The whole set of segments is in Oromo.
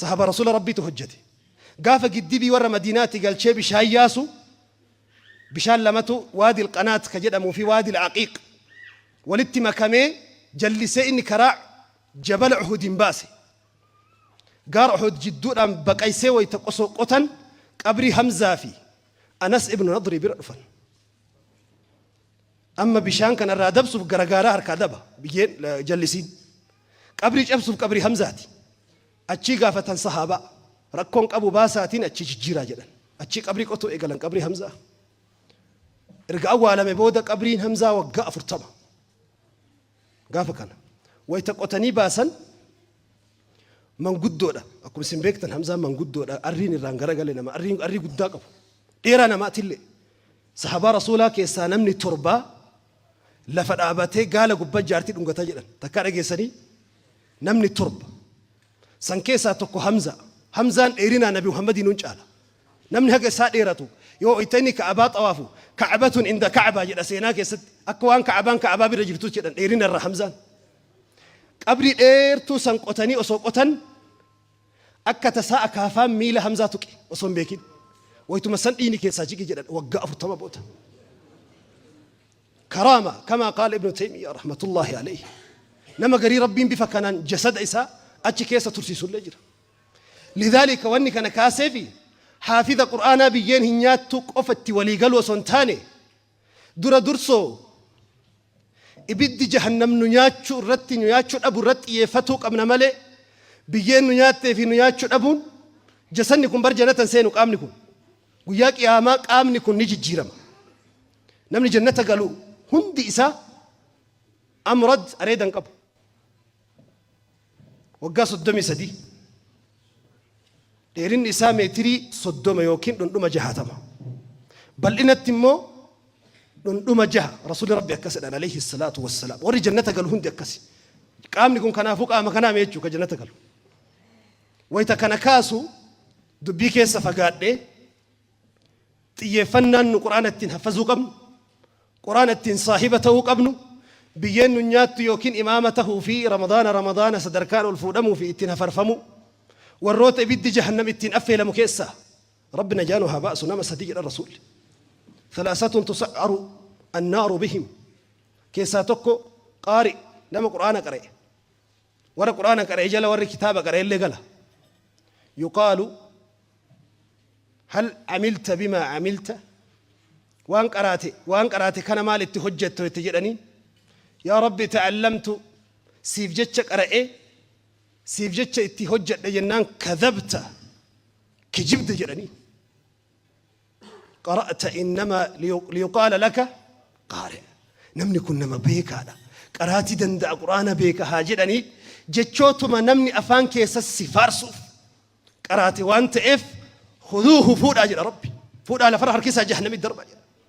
Sahaaba Rasuula Rabbiitu hojjate. Gaafa giddibii warra Madiinaati galchee bishaan yaasu, bishaan lamatu Waadil Qanaat ka jedhamuu fi Waadil Aqiiq walitti makamee jallisee inni karaa Jabala Uhudiin baase. Gaara Uhud jidduudhaan baqaysee wayta qosoo qotan qabrii Hamzaa fi Anas ibnu Nadrii bira dhufan. Amma bishaan kana irraa dabsuuf garagaaraa harkaa daba, biyyeen jallisiin. Qabrii cabsuuf qabrii Hamzaati. Achii gaafatan sahaabaa. Rakkoon qabu baasaatiin achii jijjiiraa jedhan. Achii qabrii qotuu eegalan qabrii Hamzaa. Erga awwaalame booda qabriin Hamzaa waggaa afurtama. Gaafa kana wayita qotanii baasan manguddoodha. Akkuma isin beektan Hamzaan manguddoodha. Arriin irraan garagale nama. Arriin arrii guddaa qabu. Dheeraa namaatillee. Sahabaa Rasuulaa keessaa namni torbaa lafa dhaabatee gaala gubban jaartii dhungata jedhan. Takkaa dhageessanii? Namni torba. San keessaa tokko Hamza. Hamzaan dheerinaan Nabi Muhammadii nun caala. Namni haga isaa dheeratu yoo wayta inni Ka'abaa xawaafu Ka'abatun inda Ka'abaa jedha seenaa keessatti. Akka waan Ka'abaan Ka'abaa bira jirtuutti jedhan dheerina irra Hamzaan. Qabrii dheertuu san qotanii osoo qotan akka tasaa akaafaan miila Hamzaa tuqe osoo hin beekin. Waytuma san dhiigni keessaa jige jedhan waggaa 40 booda. Karaama kamaa qaala ibnu teymiyyaa rahmatullaahi aleyhi nama garii rabbiin bifa kanaan jasada isaa achi keessa tursiisullee jira lidhaalika wanni kana kaaseefi haafiza qur'aanaa biyyeen hin nyaattu qofa itti walii galuu osoo hin taane dura dursoo ibiddi jahannam nu nyaachuu irratti nu nyaachuu dhabu irratti xiyyeeffatuu qabna malee biyyeen nu nyaattee fi nu nyaachuu dhabuun jasanni kun bar janatan seenu qaamni kun guyyaa qiyaamaa qaamni kun ni jijjiirama Namni jannata galu hundi isaa amrad areeda hin qabu. Waggaa soddomii sadii. Dheerinni isaa meetirii soddoma yookiin dhundhuma jahatama. Bal'inatti immoo dhundhuma jaha rasuulli rabbi akkas jedhan alayhi salaatu wassalaam. Warri jannata galu hundi akkasi. Qaamni kun kanaafuu qaama kanaa mee jechuudha jannata galu. Wayita kana kaasu dubbii keessa fagaadhee Xiyyeeffannaan nu Qur'aana ittiin haffazuu qabnu, Qur'aana ittiin saahiba ta'uu qabnu, biyyeen nun nyaattu ykn imaama tahuu fi Ramadaana Ramadaana sadarkaan ol fuudhamuu fi ittiin hafarfamuu, warroota ibiddi Jahannam ittiin affeelamu keessaa Rabbi najaa nu haa baasu nama sadii jedhan Rasuulli. Thalaasatun tusa'aru annaaru bihim keessaa tokko qaari, nama Qur'aana qara'e. Warra Qur'aana qara'e jala warri kitaaba qara'ellee gala. Yuqaalu, Hal amilta bimaa amilta? Waan qaraate, waan qaraate kana maal itti hojjette itti jedhaniin. Yaa Rabbi ta'allamtu, siif jecha qara'e, siif jecha itti hojjedhe jennaan, kadhabta, kijibde jedhaniin. qara'ta innama liyuqaala laka qaari namni kun nama beekaadha qaraatii danda'a quraana beeka haa jedhanii jechootuma namni afaan keessa si faarsuuf qaraate waan ta'eef huduuhu fuudhaa jedha rabbi fuudhaa lafarra harkisaa jahannamii darba jedha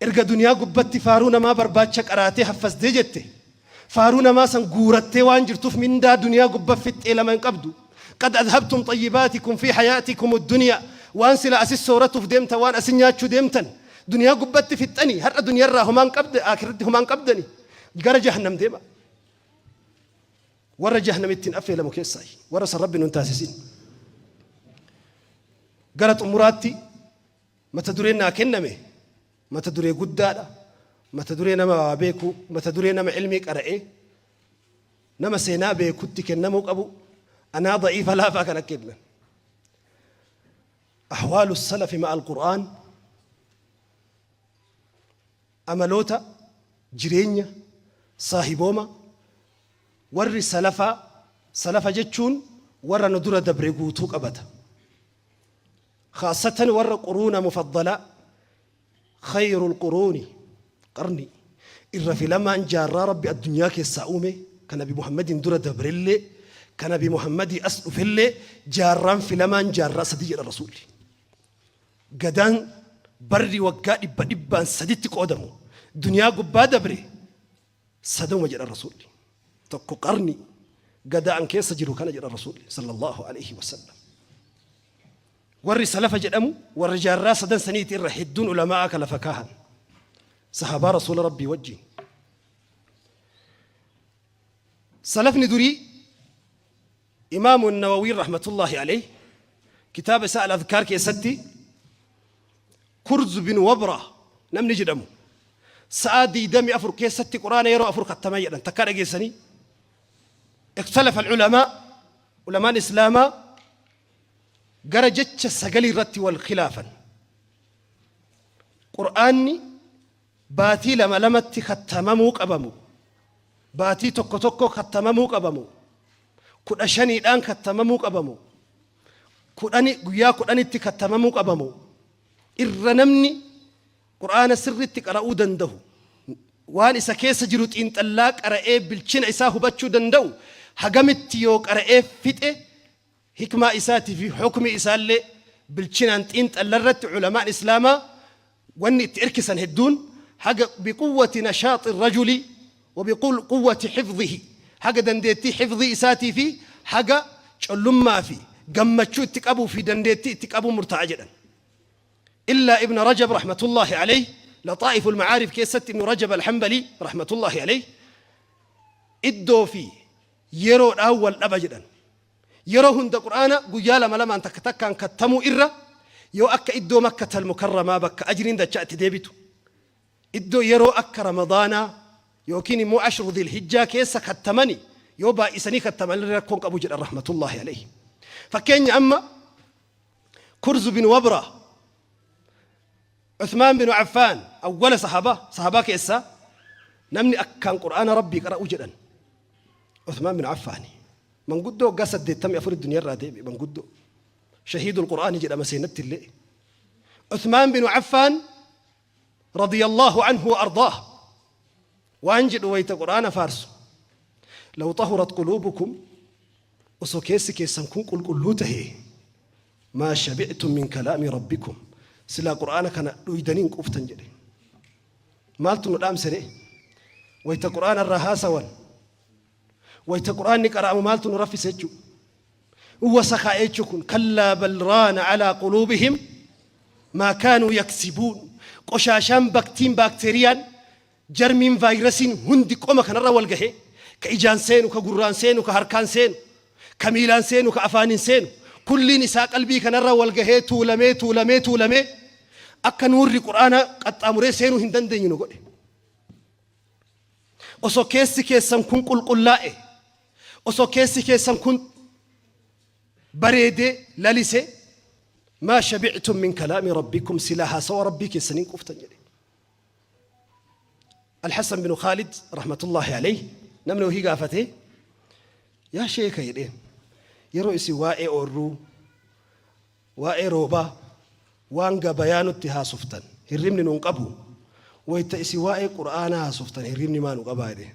Erga duniyaa gubbatti faaruu namaa barbaacha qaraatee haffazde jette faaruu namaa san guurattee waan jirtuuf mindaa duniyaa gubba fixxee lama hin qabdu. Qad adhabtum xayyibaatikum fi hayaatikum duniyaa waan sila asi sooratuuf deemtan waan asi nyaachuu deemtan duniyaa gubbatti fixxanii har'a duniyarraa homaa hin qabdan aakhiratti homaa hin qabdani gara jahannam deema. Warra jahannamitti hin affeelamu keessaa warra san rabbi nun taasisin. Gara xumuraatti Mata dureen naa kenname mata duree guddaadha, mata duree nama waa beeku, mata duree nama ilmii qara'ee, nama seenaa beekutti kennamuu qabu, anaa da'iifa laafaa kan akka ibnan. Ahwaalu salafi ma'al Qur'aan amaloota jireenya saahibooma warri salafaa salafa jechuun warra nu dura dabre guutuu qabata. Khaassatan warra quruuna mufaddalaa, khayrul quruuni, qarnii, irra filamaan jaarraa Rabbi addunyaa keessaa uume, ka nabi Muhammadiin dura dabrellee, ka nabi Muhammadii as dhufellee, jaarraan filamaan jaarraa sadii jedhan Rasuulli. Gadaan barri waggaa dhibba dhibbaan saditti qoodamu duniyaa gubbaa dabre, Sadoma jedhan Rasuulli. Tokko qarni gadaa an keessa jiru kana jedhan Rasuulli sallallahu aleyhi wa sallam. Warri salafa jedhamu warra jaarraa sadan saniiti irra hedduun ulama'aa ka lafa kaahan. Sahabaa Rasuula Rabbii wajjiin. Salafni durii Imaam An-Nawawiin rahmatullaahi aleyh kitaaba isaa Al-Adhkaar keessatti Kurz bin Wabra namni jedhamu sa'aa 24 keessatti Qur'aana yeroo afur khattama jedhan takkaa dhageessanii Ikhtalafa al-ulamaa ulamaan Islaamaa gara jecha sagalii irratti wal khilaafan Qur'aanni Baatii lama lamatti kattamamuu qabamu. Baatii tokko tokko kattamamuu qabamu. Kudha shaniidhaan kattamamuu qabamu. Kudhani guyyaa kudhanitti kattamamuu qabamu. Irra namni Qur'aana sirriitti qara'uu danda'u, waan isa keessa jiru xiinxallaa qara'ee bilchina isaa hubachuu danda'u hagamitti yoo qara'ee fixe Hikmaa isaatii fi hukmii isaallee bilchinaan xiinxalla irratti ulamaan Islaamaa wanni itti irkisan hedduun haga biquwwati nashaaxi rajuli wa biquwwati hifdhihi haga dandeettii hifdhii isaatii fi haga collummaa fi gammachuu itti qabuu fi dandeettii itti qabuun murtaa'a jedhan. Illaa Ibna Rajab rahmatullaahi aleyh Laxaa'iful Ma'aarif keessatti Ibnu Rajab Al-Hanbalii rahmatullaahi aleyh iddoo fi yeroodhaan wal dhaba jedhan. Yeroo hunda Qur'aana guyyaa lama lamaan takka takkaan kattamuu irra yoo akka iddoo Makkatal Mukarramaa bakka ajriin dachaa itti deebitu, iddoo yeroo akka Ramadaanaa yookiin immoo Ashru Dhil Hijjaa keessa kattamani yoo baay'isanii kattaman illee rakkoo hin qabu jedhan rahmatullaahi alayhi. Fakkeenya amma Kurzu bin Wabra, Uthmaan bin Affaan, awwala sahaabaa, sahaabaa keessaa namni akkaan Qur'aana Rabbii qara'u jedhan. Usmaan bin Affaani. Manguddoo waggaa 84 duniyarraa deebi'e manguddoo. Shahiidul Qur'aani jedhama seenatti illee. Usmaan bin Affaan radiyallahu anhu wa ardaah. Waan jedhu wayita Qur'aana faarsu. Law tahurat quluubukum osoo keessi keessan kun qulqulluu tahe maa shabictum min kalaami rabbikum silaa Qur'aana kana dhuydanii hin quuftan jedhe. Maaltu nu dhaamse ree? Wayta Qur'aana irraa haasawan, wayta Qur'aanni qara'amu maaltu nu raffise jechuu? Uwwasa kaa'e jechuu kun. Kallaa bal raana calaa quluubihim maa kaanuu yaksibuun. Qoshaashaan, baktiin, baakteeriyaan, jarmiin, vaayirasiin hundi qoma kanarra wal gahe, ka ijaan seenu, ka gurraan seenu, ka harkaan seenu, Ka miilaan seenu, ka afaaniin seenu, kulliin isaa qalbii kanarra wal gahee tuulamee, tuulamee, tuulamee akka nuurri Qur'aanaa qaxxaamuree seenuu hin dandeenye nu godhe. Osoo keessi keessan kun qulqullaa'e, osoo keessi keessan kun bareedee, lalisee, maa shabi'tum min kalaami rabbikum, silaa haasawa Rabbii keessaniin quuftan jedhe. Alhassan bin Khaalid rahmatullahi alayhi namni wahii gaafate yaa sheeka jedheen yeroo isin waa'ee oorruu waa'ee roobaa waan gabayaa nutti haasoftan hirribni nun qabu wayta isin waa'ee qur'aanaa haasoftan hirribni maa nu qabaa jedheen